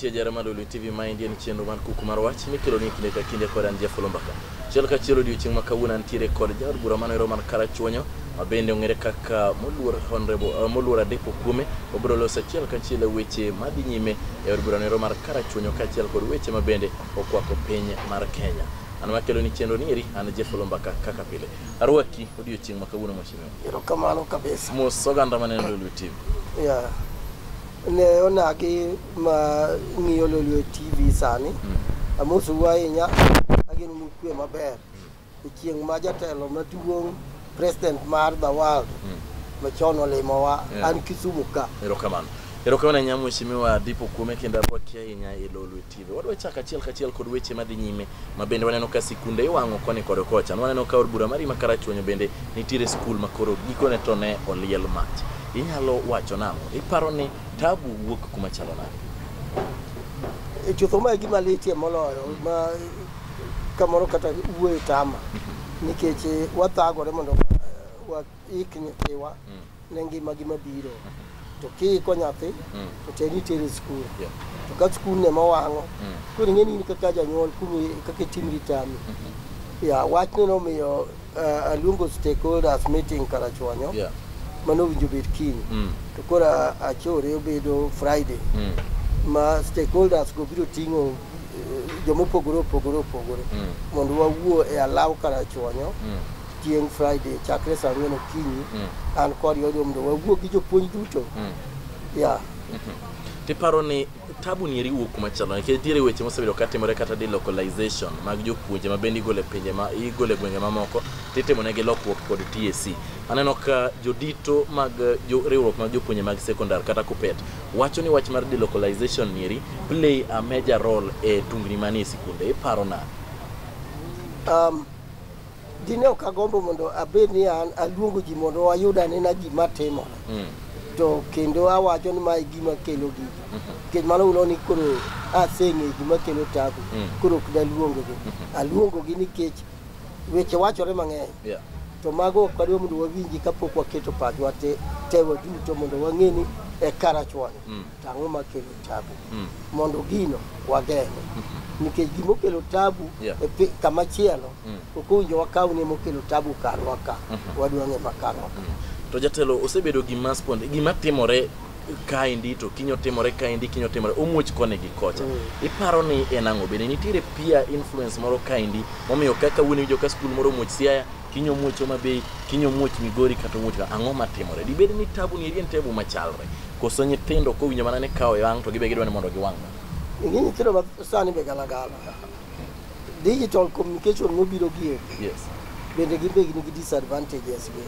mantie jara mar Lulu TV ma indie ni chenro mar kuku mar wach mikelo ni kinde ka kinde kod an Jeff Lombaka. Chiel ka chiel odiochieng' ma kawuono antiere kod jaod bura manoero man Karachuonyo ma bende ong'ere kaka moluor honorable uh, moluor Adepo Kuome obiro loso achiel ka achiel weche ma dhi nyime e od bura noero mar Karachuonyo kaachiel kod weche ma bende okwako piny mar Kenya. An makelo ni chenro ni eri an Jeff Lombaka kaka pile. Arwaki odiochieng' ma kawuono mheshimiwa. Erokamano kabisa. Mos oganda maneno Lolwe TV. Yeah. Ne onagi ma ng'iyo Lolwe TV sani. Mm. Amosu ahinya. Ageno nu kwe maber. E chieng' ma jatelo maduong' president mar the world mm. machon olimowa yeah. an Kisumu ka. Erokamano. Erokamano ahinya mheshimiwa Dipo Kuome kendo arwaki ahinya e Lolwe TV. Kidhi. Wadwa chako achiel kachiel kod weche madhi nyime ma bende waneno ka sikunde iwang'o koni kod kocha. Waneno ka od bura marima Karachuonyo bende nitiere skul ma koro gikone to ne oliel mach. Inyalo wacho nang'o? Iparo ni tabu wuok kuma chalo nade? E chutho ma e gima litie moloyo ma kamoro kata wuoyo tama nikech eh, wathagore mondo wa- wa- ik nyithiwa mm. ne ngima gi mabiro mm -hmm. to kiiko nyathi mm. to te nitere skul yeah. to ka skul ne mowang'o mm. koro ing'eni in kaka janyuol kumi kaka itim ritami mm -hmm. yeah, wachne nomiyo uh, aluongo stakeholders meeting karachuonyo yeah. mano owinjo bed kiny mm. to koro achore obedo friday mm. ma stakeholders go biro ting'o uh, jomopogore opogore opogore mm. mondo wawuo e alaw karachuonyo mm. chieng' Friday chakre saa ang'wen okinyi Mm. an kod Yori Omundo wawuo gi jopuonj duto Mm. ya tiparo ni tabu ni eri wuok kuma chalo nikech diere weche mosebedo ka timore kata delocalization mag jopuonje ma bende igole pinje ma igole gwenge mamoko titimo negi lokruok kod TSC aneno ka jodito mag eh, jo, riwruok mag jopuonje mag secondary kata kupet wacho ni wach mar delocalization ni eri play a major role e tungni manie sikunde iparo nade um, Dine ok agombo mondo abed ni an aluongo ji mondo wayud anena gima timore. Mm. To kendo awacho ni mae gima kelo gigi. Mm-hmm. Nikech mano ulo ni koro aseng'e gima kelo tabu. Mm. Koro ok daluongo gi. Mm-hmm. Aluongo gi nikech weche wachore mang'eny. Yeah. To mago ok wadwa mondo wawinji kapok waketo pachwa te, te waduto mondo wang'e ni e karachwani. Mm. To ang'o makelo tabu Mm. mondo gino wageng'e nikech gimokelo tabu Yeah. e pi- kama chielo Mm. ok owinjo wakaw ni emokelo tabu karwa ka wadwa ng'e ma karwa ka to jatelo osebedo gima spond gima timore kaendi to kinyo timore kaendi kinyo timore omuoch koni gi kocha Mm. iparo ni en ang'o bende nitiere peer influence moro kaendi momiyo kaka wuon iwinjo ka skul moro omuoch siaya kiny omuoch Homa Bay, kiny omuoch Migori kata omuoch ka- ang'o matimore? Dibed ni tabu ni eri en tabu machalre? Koso nyithindo kowinjo mana ni kawo yang' to gibe gidwa ni mondo giwang' ma? Ing'e nyithindo ma sani be galagala. Digital communication mobiro gi e, Yes. bende gin be gin gi disadvantages gi.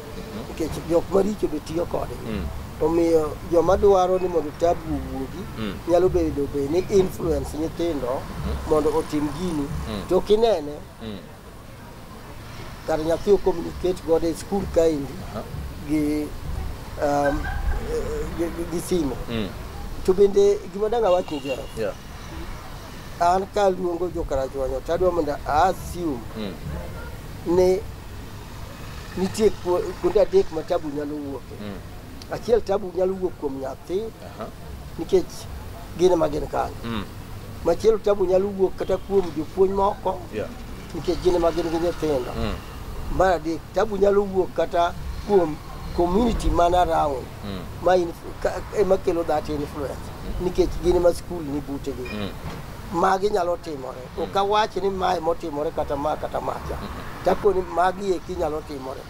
Nikech jok maricho be tiyo kode. Mm. Omiyo joma dwaro ni mondo tabu owuogi Mm. nyalo bedo be ni influence nyithindo mondo otim gini. Mm. To kinene Mm. kar nyathi o communicate godo e skul kaendi gi, um, gi, gi, gi simo Mm. to bende gima dang' awach ni Jeff, Yeah. an kaluongo jokarachuonyo to adwa mondo a assume Mm. ni nitie ku- kuonde adek ma tabu nyalo wuoke Mm. achiel tabu nyalo wuok kuom nyathi Aha. nikech gin ema gin kanyo. Mm. Machielo tabu nyalo wuok kata kuom jopuonj moko Yeah. nikech gin ema gin gi nyithindo. Mm. Mar adek, tabu nyalo wuok kata kuom community man around Mm. ma in, ka, ema kelo that influence nikech gin ema skul ni butegi. Mm. Magi nyalo timore. Ok awach ni mae motimore kata ma kata macha. Tako ni magi eki nyalo timore.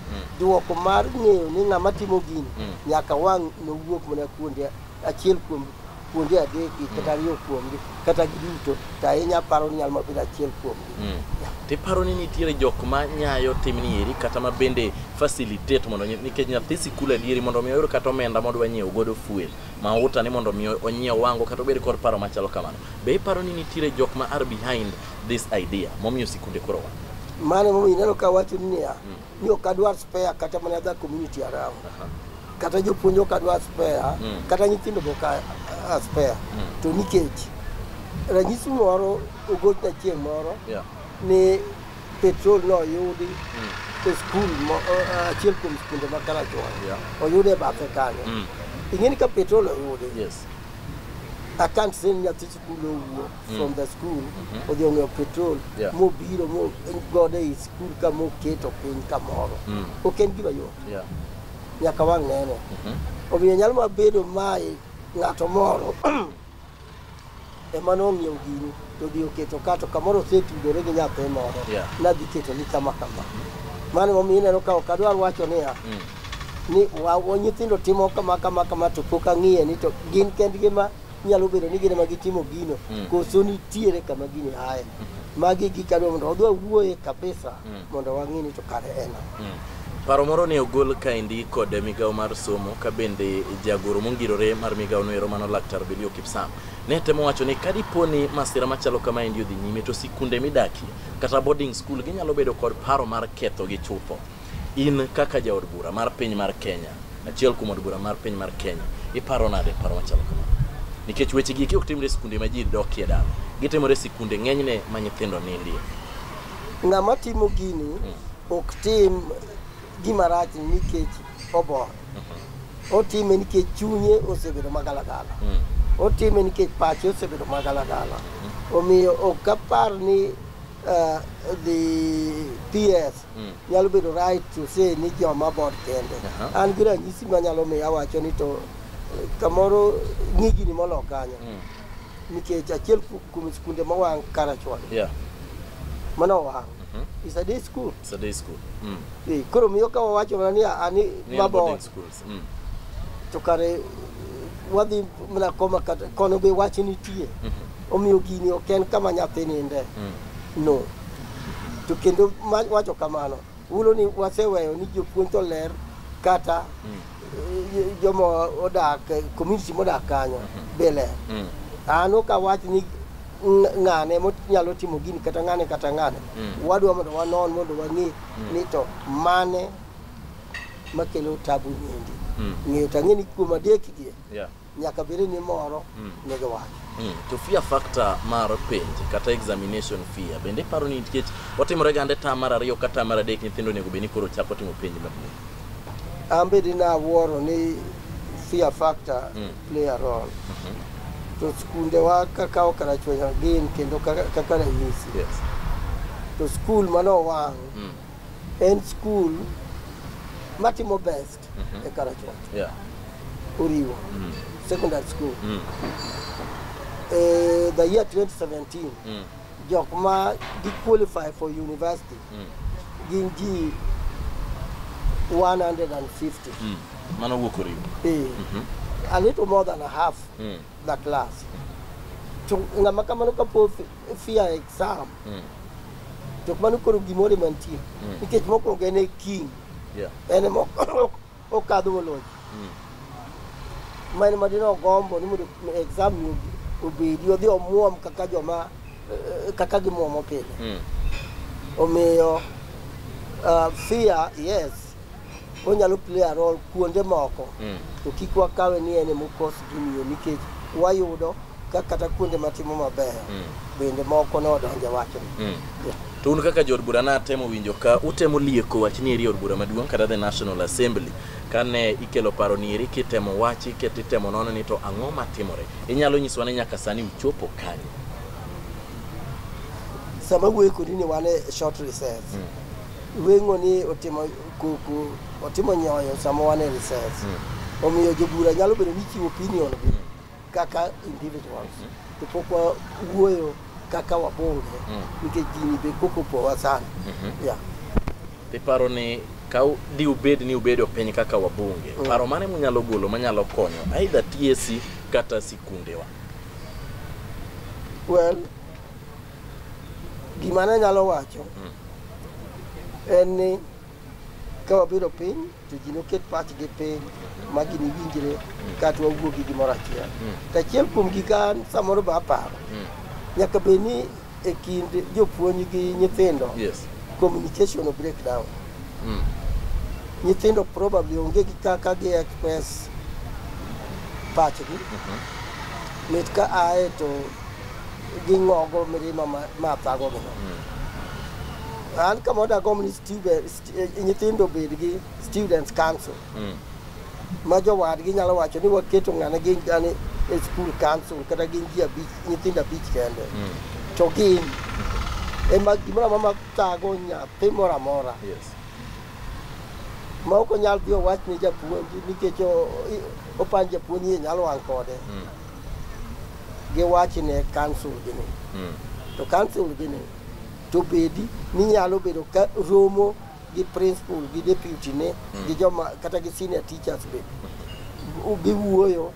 Duoko mar ng'eyo ni ng'ama timo gini Mm. nyaka wang' nowuok mana kuonde achiel kuom kuonde adeki kata ariyo kuomgi kata giduto to ahinya aparo ni nyalo mana bedo achiel kuomgi. Mm. tiparo ni nitiere jok ma nyayo timni eri kata ma bende facilitate mondo nyi- nikech nyathi sikul adieri mondo mi oyud kata omenda modwa nyiewo godo fuel mauta ni mondo mi onyiew wango kata obed kod paro machalo kamano be iparo ni nitiere jok ma are behind this idea momiyo sikunde koro wa Mano momiyo ineno ka wacho ni niya, ni ok adwar spare kata mana dha community around kata jopuonj ok adwar spare Mm. kata nyithindo be ok a- a- spare Mm. to nikech ranyisi moro ogochna chieng' moro Yeah. ni petrol noyudi Mm. e skul mo- eh, achiel kuom skunde ma Karachuonyo Yeah. oyude e bathe kanyo Mm. ing'eni ka petrol oyudi Yes. I can't send nyathi nowuok mm. from the school mm-hmm. odhi ong'iewo petrol mobiro gode e skul ka moketo piny kamoro mm. ok en gima yot nyaka wang' nene mm-hmm. omiyo nyalo ma bedo mae ng'ato moro ema nong'iewo gini to odhi oketo ka to kamoro osetudore gi nyathi moro nadhi keto ni kama kama mano momiyo ineno ka ok adwar wacho niya mm. ni nyithindo timo kama kama kama to pok ang'iye ni to gin kendgi ma nyalo bedo ni gine ma gitimo gino mm. koso nitiere kama gini aye mm. magi gikadwa mondo wadwa wuoye kabisa mm. mondo wang'e ni to kare ena mm. paro moro ne ogol kaendi kod migawo mar somo ka bende jagoro mongirore mar migawo noero mano laktar bilio kipsam ne temo wacho ni kadipo ni masira machalo kama endi odhi nyime to sikunde midakie kata boarding school ginyalo bedo kod paro mar ketho gi chutho In kaka jaod bura mar piny mar Kenya, achiel kuom od bura mar piny mar Kenya, iparo nade paro machalo kamano? Nikech weche gigi ok timre e sikunde ma ji dokie dala, gitimore e sikunde ng'enyne ma nyithindo nindie. Ng'ama timo gini ok tim gima rach nikech obor. Otime nikech chunye osebedo magalagala. Otime nikech pache osebedo magalagala. Omiyo ok apar ni eh, dhi PS Mm. Nyalo bedo right to say ni joma bot kende. Uh -huh. An gi ranyisi ma nyalo miyo awacho ni to eh, kamoro ng'igini molo kanyo. Mm. Nikech achiel kuom skunde ma wang' Karachuon. Yeah. Mano wang'. Mm -hmm. It's a day school. It's a day school. Mm. Eh, koro miyo ka wawacho mana ni ani mabot. School. mm. to kare wadhi mana koma kata kono be wach nitie mm -hmm. omiyo gini ok en kama nyathi ninde mm. no to kendo wacho kamano ulo ni waseweyo ni jopuonj to ler kata mm. Eh, joma odak community modak kanyo mm -hmm. be ler mm. ano ka wach ni ng'ane monyalo timo gini kata ng'ane kata ng'ane mm. wadwa mondo wanon mondo wang'e mm. ni to mane makelo tabu niendi Mm. ng'eyo to ang'e ni kuom adekgie Yeah. nyaka bed ni moro Mm. ne giwacho Mm. To fear factor mar penj kata examination fear bende iparo ni nikech otimore gande tam mar ariyo kata tam mar adek nyithindo onego bed ni koro chako timo penj maduong'. an bedi nawuoro ni fear factor Mm. play a role Mhm. to skundewa kakawo karachwenya gin kendo kaka kaka ranyisi Yes. to skul mano wang' Mm. en skul matimo best e Karachuo. Yeah. Oriwo Mm. secondary school. Mm. Eh, the year 2017 Mm. jok ma gi qualify for university Mm. gin ji 150. Mm. Mano wuok oriwo. Eh, Mhm. a little more than a half Mm. the class. To ng'ama kamano kapo fear exam Mm. to mano koro gimoro mantie Mm. nikech mokwongo en e king Yeah. en ema ok- okadho woloji Mm. ma en madine ogombo ni mondo exam ni obi- obedi odhi omuom kaka joma eh, kaka gimuomo pile Mm. omiyo uh, fear yes onyalo play a role kuonde moko mm. to kik wakawe ni en emokos gimiyo nikech wayudo ka kata kuonde matimo maber mm. bende moko ne odonje wachni mm. yeah. to un kaka jood bura natemo winjo ka utemo lieko wach ni eri od bura maduong' kata the national assembly kane ikelo paro ni eri kitemo wachi ket itemo nono ni to ang'o matimore inyalo nyiswa ni nyaka sani uchopo kanye sama wuoye kodi ni wan e short recess mm. Weng'o ni otimo kuku, otimo nyoyo sama wan e recess. Hmm. Omiyo jobura nyalo bedo ni chiwo opinion gi hmm. kaka individuals. Hmm. To pok wawuoyo kaka wabunge nikech gini be koko opowa sana. Mm-hmm. Yeah. Iparo ni ka di ubed ni ubedo piny kaka wabunge, mm. paro mane munyalo golo manyalo konyo aidha TSC kata sikundewa? Well, Gima ne nyalo wacho hmm. en ni ka wabiro piny to ji noket pachgi piny ma gini winjre hmm. kata wawuo gi gimoro achiel. Hmm. To achiel kuom gik an samoro be aparo, nyaka bed ni e kind jopuonj gi nyithindo communication break down. Nyithindo probably onge gi kaka gi express pachgi. Mhm. Mit ka ae to gi ng'ogo mirima ma- ma thagogi no an kama dagomb ni student- st- eh, nyithindo obed gi students council ma jowadgi nyalo wacho ni waketo ng'ane gin gani e school council kata gin ji abich nyithindo abich kende to gin ema gimoro amora ma tago nyathi moro amora Yes. ma ok onyal dhi owach ne japuonj nikech o- i- opand japuonj iye nyalo wang' kode giwachi ne kansul gi ni mm. to kansul gi ni to bedi ni nyalo bedo ka romo gi principal gi deputy ne mm. gi joma kata gi senior teachers be giwuoyo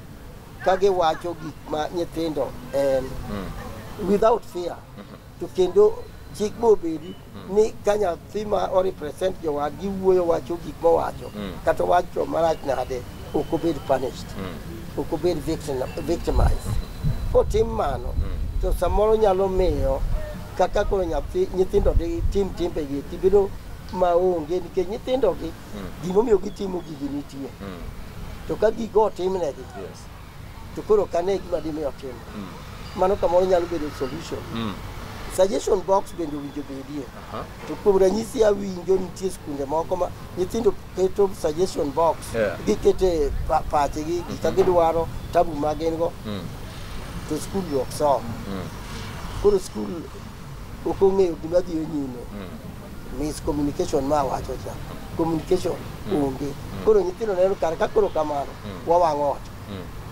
ka giwacho gik ma nyithindo en mm. without fear mm-hmm. to kendo chik be obedi mm. ni ka nyathi ma orepresent jowadgi wuoyo wacho gik mowacho mm. kata owacho marach nade ok obed punished mm. ok obed victimized mm. kotim mano mm. to samoro nyalo miyo kaka koro nyathi nyithindo gi tim timbegi tibedo maonge nikech nyithindogi mm. gimomiyo gitimo gigi nitie mm. to ka gigo otimnegi yes. to koro ok ane gima dimi otimo mm. mano kamoro nyalo bedo solution mm. suggestion box bende owinjo bedie uh -huh. to kuom ranyisi awinjo nitie skunde moko ma nyithindo keto suggestion box yeah. gikete pa pachegi mm -hmm. gika gidwaro tabu ma gin go mm. to skul ok som mm. koro skul ok ong'eyo gima dhiyo nyime mm. miscommunication ma wacho cha communication onge koro nyithindo neno kare ka koro kamano wawang'o ot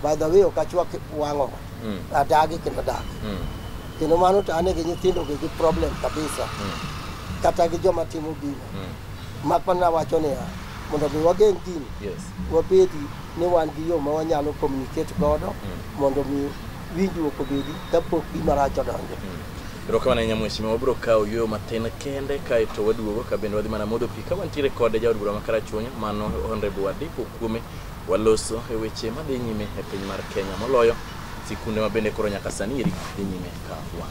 by the way ok achwak wang'o ot adagi kendo adagi kendo mano to ane gi nyithindo gi gi problem kabisa kata gi joma timo gino mak mana wacho niya mondo mi wageng' gini Yes. wabedi ni wan gi yo ma wanyalo communicate godo mondo mi winjruok obedi kapok gima rach odonjo Erokamano ahinya mheshimiwa, wabiro kawo yueyo matin kende kae to waduogo ka bende wadhi mana modho pi ka wantiere kod jaod bura ma Karachuonyo mano Honorable Wadeko Kuome waloso e weche madhi nyime e piny mar Kenya moloyo sikunde ma bende koro nyaka sani eri dhi nyime ka wan.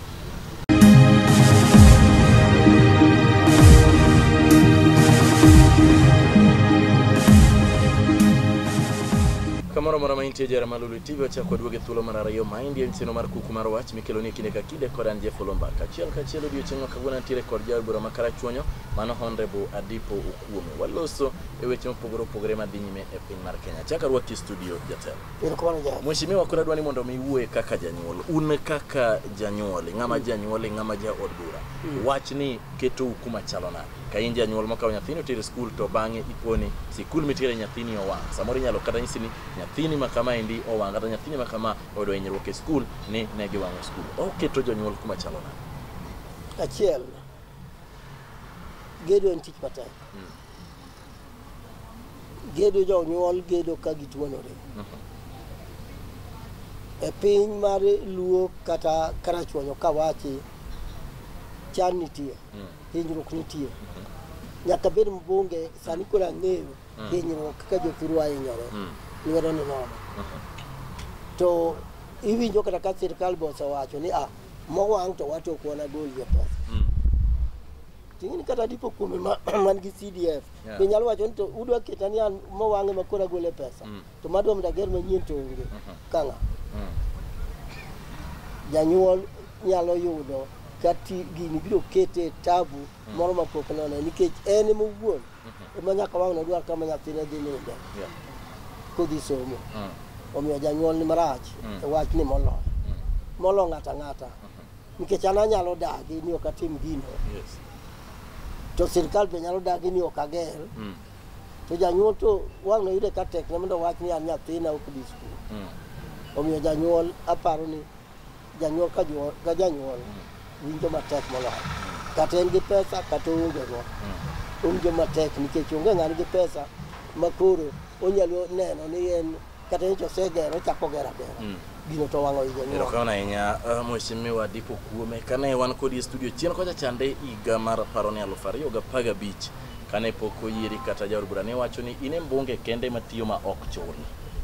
Kamoro mora ma intie jara malulu TV wachako waduogo e thuolo mar ariyo ma indie nchino mar kuku mar wach mikeloni e kinde ka Dekoran Jefolomba kachiel kachiel odiochieng' ma kawuono antiere kod jaod bura ma Karachuonyo mano Honorable Adipo Okuome. Waloso e weche mopogore opogore madhi nyime e piny mar Kenya. Chaka rwaki studio jatelo. Erokamano ja. Mheshimiwa koro adwani mondo mi iwuoye kaka janyuol. Un kaka janyuol, ng'ama janyuol, ng'ama jaod bura. Wachni ketou kuma chalo nade? Ka in janyuol makawo nyathini otere skul to bang'e iponi sikul mitere nyathini owang'. Samoro inyalo kata nyisi ni nyathini ma kama endi owang' kata nyathini ma kama oyudo hinyruok e skul ni ne giwang'o skul. Oketo jonyuol kuma chalo nade? Achiel, gedo en tich matek. Mm. Gedo jonyuol gedo ka gituonore. Mm -hmm. E piny mar luo kata karachuonyo kawachi chan nitie, mm. hinyruok nitie. Mm -hmm. Nyaka bed mbunge sani koro ang'eyo mm. hinyruok ka jothurwa hinyore mm. lwedo ni nono mm-hmm. to iwinjo kata ka sirkal be osewacho ni ah mowang' to wato ok wanagol jopesa mm. ting'eni kata dipo kuome man gi cdf be nyalo wacho ni to udwa keta ni an mowang'e ma koro agole pesa to madwa mondo ager manyien to onge mm-hmm. kang'a janyuol nyalo yudo kati gini biro kete tabu moro mapok none nikech en mowuon Omiyo nyaka wang' nodwar kama nyathine dhi ninde Yeah. kodhi somo. Mm. Omiyo janyuol ni marach Mm. e wachni moloyo. Molo ng'ata ng'ata. Nikech an anyalo dagi ni ok atim gino. Yes. To sirkal be nyalo dagi ni ok ager. Mm. To janyuol to wang' noyude ka tekne mondo owach ni an nyathina ok dhi skul. Mm. Omiyo janyuol aparo ni Janyuol ka janyuol, ka janyuol winjo matek moloyo. Kata en gi pesa kata oonge go. Owinjo matek nikech onge ng'ani gi pesa ma koro onyalo neno ni en kata nyocha osegero ochako gero agera. Gino to wang'o i janyuol. Erokamano ahinya uh, Mheshimiwa Diko Kuome. Kane wan kodi e studio chien kocha chande higa mar aparo ni aluf ariyo gi apar gabich Kane pok oyieri kata jaod bura ne wacho ni in e mbunge kende matiyo ma ok chul.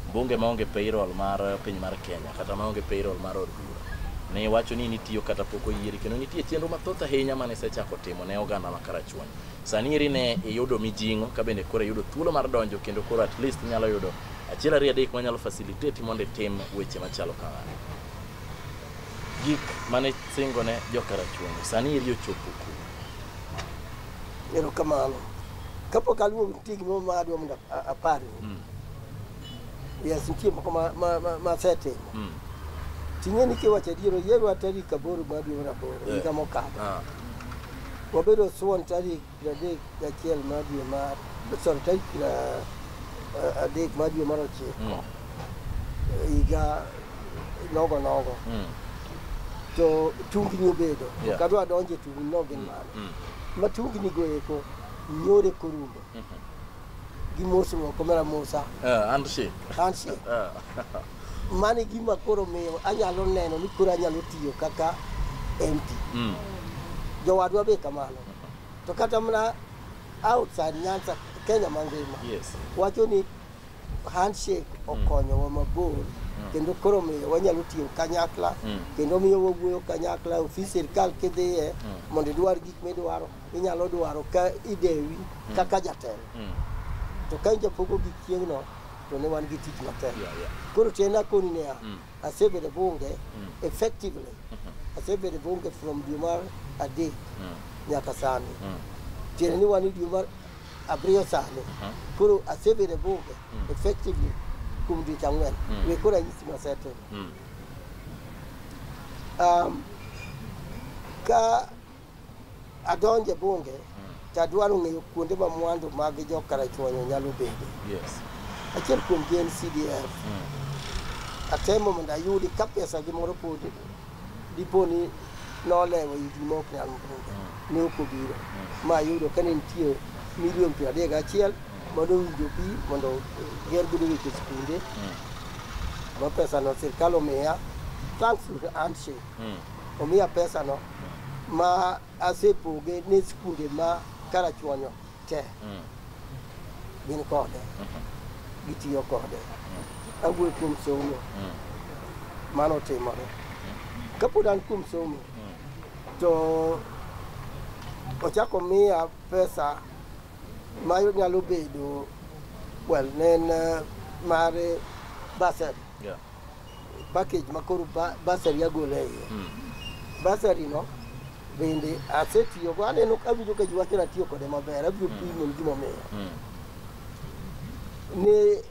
Mbunge maonge payroll mar piny mar Kenya kata maonge payroll mar od bura. Ne wacho ni nitiyo kata pok oyieri kendo nitie chenro mathoth ahinya mane isechako timo ne oganda ma Karachuonyo. Sani eri ne iyudo mijing'o ka bende koro iyudo thuolo mar donjo kendo koro at least inyalo yudo achiel ariyo adek manyalo facilitate mondo itim weche machalo kamano. Gik mane singo ne jo Karachuonyo sani eri ochopo kure? Erokamano. Kapok aluwo nitie gimoro ma adwa mondo a- aparni. Mm. Yes, nitie moko ma- ma- ma- ma asetimo. Mm. Ting'e ni kiwacho adier, oyierwa tarik aboro mar dwe mar aboro Eh. higa mokalo. Ah. Wabedo Suwon tarik piero adek gachiel mar dwe mar sorry, tarik piero a- adek mar dwe mar ochiko Mm. higa nogo nogo Mm. to tungni obedo Yeah. ok adwa donjo e tungni no gin mage Mm. matugni goeko nyore korumo Mhm. gi mosruok mara musa Eh, and she. kansi Eh. mano e gima koro miyo anyalo neno ni koro anyalo tiyo kaka mp Mm. jowadwa be kamano to kata mana outside nyansa kenya mangima Yes. wacho ni handshake okonyowa mabor kendo koro miyo wanyalo tiyo kanyakla Mm. kendo miyo wawuoyo kanyakla ofis sirikal kidhiye mondo idwar gik midwaro inyalo dwaro ka idewi kaka jatelo Mm. to ka japogo gik chieng'no to ne wan gi tich matek Yeah, yeah. koro tiend akoni niya Mm. asebedo bunge effectively asebedo bunge from dwe mar adek Mm. nyaka sani Mm. tiende ni wan e dwe mar Abiriyo sano. Aha. Koro asebede bunge Mm. effectively kuom dweche ang'wen. Mm. We koro anyisi masetimo. Mm. Um, ka adonje bunge to adwaro ng'eyo kuonde ma mwandu mag jo Karachuonyo nyalo bede. Yes. Achiel kuomgi en CDF. Mm. Atemo mondo ayudi ka pesa gi moro pod Dipo ni nolewo igi ma ok nyal mudho, ne ok obiro. Ma yudo ka ne nitie milion piero adek gachiel mondo owinjo pi mondo ger godo weche sikunde ma pesano sirkal omiya thanks to the handshake omiya pesano ma asepoge ne skunde ma karachuonyo te mm. gin kode mm-hmm. gitiyo kode mm. awuoyo kuom somo mm. mano otimore kapod an kuom somo to ochako miya pesa ma nyalo bedo well ne en eh, mar basari package ma koro ba- basari agolo e iye basari no bende asetiyo go aneno awinjo ka jiwacho ni atiyo kode maber abiro pimoni gimomiyo ne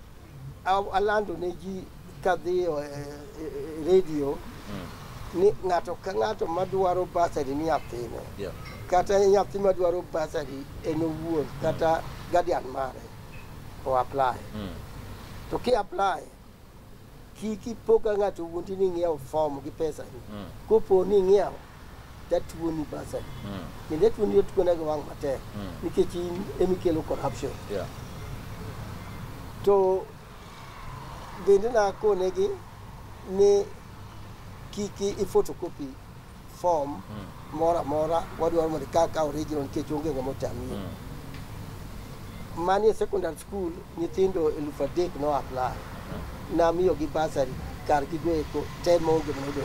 a- alando ne ji kadhiyo e, e, e, redio ni ng'ato ka ng'ato madwaro basari ni nyathine Yeah. kata nyathi madwaro basari en owuon kata guardian mare o apply to ki apply Kik ipo ka ng'ato wuondi ni ing'iewo fom gi pesani. Mm. Kopo ni ing'iewo, tatuoni basari. Mm. Kendo atuoni otuona gi wang' matek Mm. nikech in emikelo corruption. Yeah. To bende nakonegi ni kik i photocopy form moro amora wadwaro mondo ikaw ka original nikech onge ng'ama otami mani e secondary school nyithindo elufu adek no apply namiyogi basari kar gigoeko te maonge modo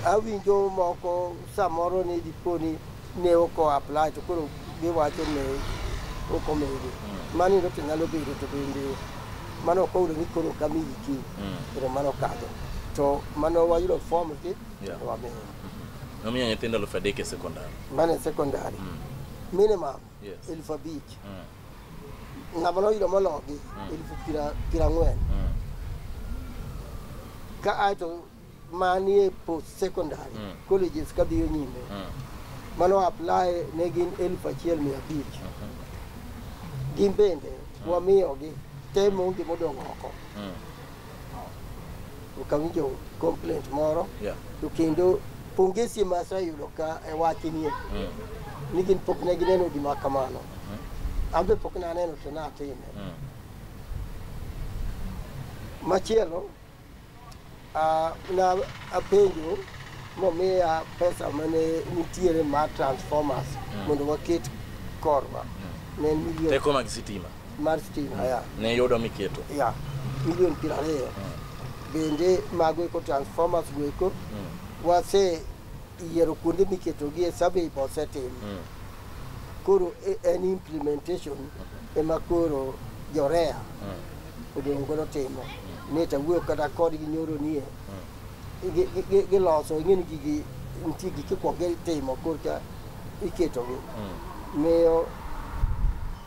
awinjo moko samoro ni diponi ne ok o apply to koro giwacho ne ok omede mano yudo to nyalo bedo to bende mano ok oyudo ni koro ok amiyi ki koro mano okadho to mano wayudo form gi Yeah. to wamiyo nomiyo nyithindo elfu adek e sekondar mano e secondary minimum Yes. elfu abich ng'ama noyudo mologi elfu piero piero ang'wen ka ae to manie post secondary mm. colleges kadhiyo nyime mm. mano apply ne gin elfu achiel mia abich mm -hmm. gin bende mm. wamiyogi te monge modong' oko mm. okawinjo complaint moro yeah. to kendo pongesi ma aseyudo ka e wachnie mm. ni gin pok ne gineno gima kamano mm. an be pok naneno to natime mm. machielo Ah, na apenjo momiya pesa mane nitiere ma transformers mondo waket korwa ne en milion Teko mag sitima mar stima ya ne yudo miketo. ya milion piero ariyo bende mago eko transformers go eko wase yiero kuonde miketogie survey be osetim Mm. koro e- en implementation ema koro jorea odong' godo timo ni to wuoyo kata kodgi nyoro nie gi- gi- gi- giloso ing'eni gigi nitie gik ikwongo gitimo korka iketogi miyo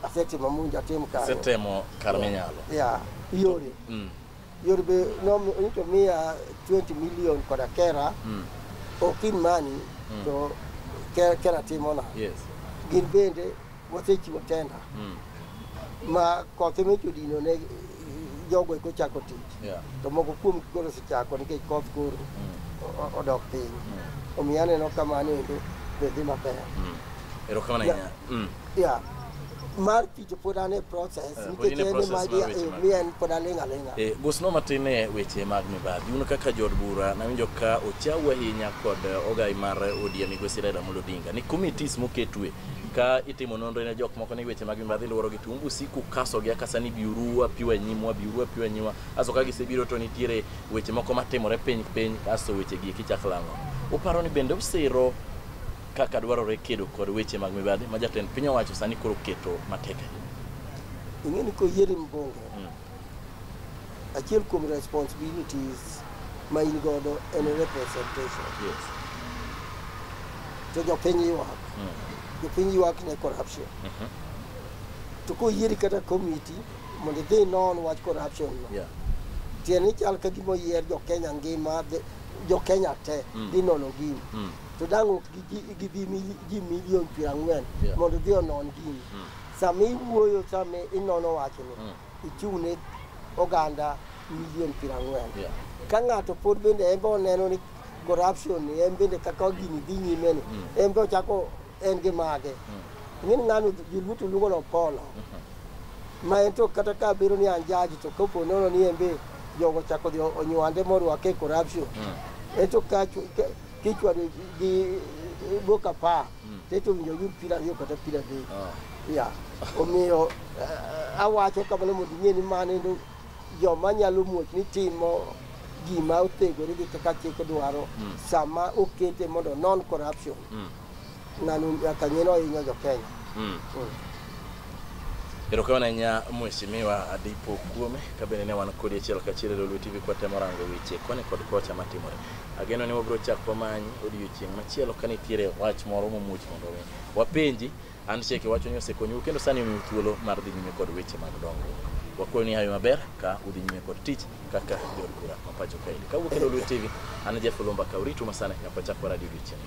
asetimo monjo atim kanyo Setemo kar minyalo. ya yore Mm. yore be nom- nito miya 20 million koda kera Mm. ok in mani to ke- kera timona Yes. gin bende wasechiwo tenda Mm. ma kothe michodino ne jogo eko chako tich Yeah. to moko kuom koro osechako nikech koth koro o- o- odok piny Mm. omiyo aneno kamano endo be dhi maber Mm. Erokamano Yeah. ahinya. Mm. ya mar tich pod an e process Eh, pod nikech in e en process mar weche ema mag- mi en pod aling' aling'a Eh, Gosno matin e weche mag mibadhi. Uno kaka jood bura nawinjo ka ochau ahinya kod eh, ogai mar ODM Migosi Raila Amolo Odinga ni committees moketwe ka itimo nonro ne jok moko ni weche mag mibadhi luworo gi tung usiku kaso gi akasa ni biuru apiwa e nyimwa biuru apiwa e nyimwa aso ka gisebiro to nitiere weche moko matimore piny piny aso weche gi kichak lango uparo ni bende usiro kaka dwarore kedo kod weche mag mibadhi ma jatend piny owacho sani koro keto matek ahinya ing'e ni koyieri mbunge achiel kuom responsibilities ma in godo en representation Yes. to jopiny ywak Mm. jopiny ywak ne corruption Mhm. to koyieri kata committee mondo idhi non wach corruption no Yeah. tiende ni chal ka gima oyier jokenya ngima dhi- jokenya te Mm. dhi nono gini Mm. to dang' ok gi- gi- gidhi mili- ji milion piero ang'wen Yeah. mondo dhi onon gini Mm. Sama iwuoyo, sama inono wachni, mm. ichung' ne oganda milion piero ang'wen. Yeah. Ka ng'ato pod bende en be oneno ni corruption en bende kaka gini dhi nyime ni, mm. en be ochako en gi mage. Mm. Ing'e ni ng'ano joluo to luongo ni Opolo. Mm-hmm. Ma en to kata ka biro ni an jaji to kopo nono ni en be jogo ochako dhi onywande morwake e corruption. Mm. En to ka kichwado gi boka pa. Tete owinjo yud pira ariyo kata pira adek. Ah. Ya. Omiyo eh, awacho kamano mondo ing'e ni mano endo joma nyalo muoch ni timo gima otegore gi kaka chik dwaro hmm. sama okete mondo non corruption. Hmm. Nanu nyaka ng'e ni ohinyo jo Kenya. Hmm. Erokamano ahinya Mheshimiwa Adipo Okuome, ka bende ne wan kodi achiel kachiel e Lolwe TV kwatemo rango weche koni kod kocha matimore. Ageno ni wabiro chako wamanyi odiechieng' machielo ka nitiere wach moro momuoch mondo mi wapenji. An Sheke wacho ni osekonyu kendo sani omiu thuolo mar dhi nyime kod weche mag dongruok. Wakwayo ni hayo maber ka udhi nyime kod tich kaka jod bura ma pacho kaendi. Kawuok e Lolwe TV, an Jeff Olumba Kauritu masane nyaka wachak waradi odiechieng'.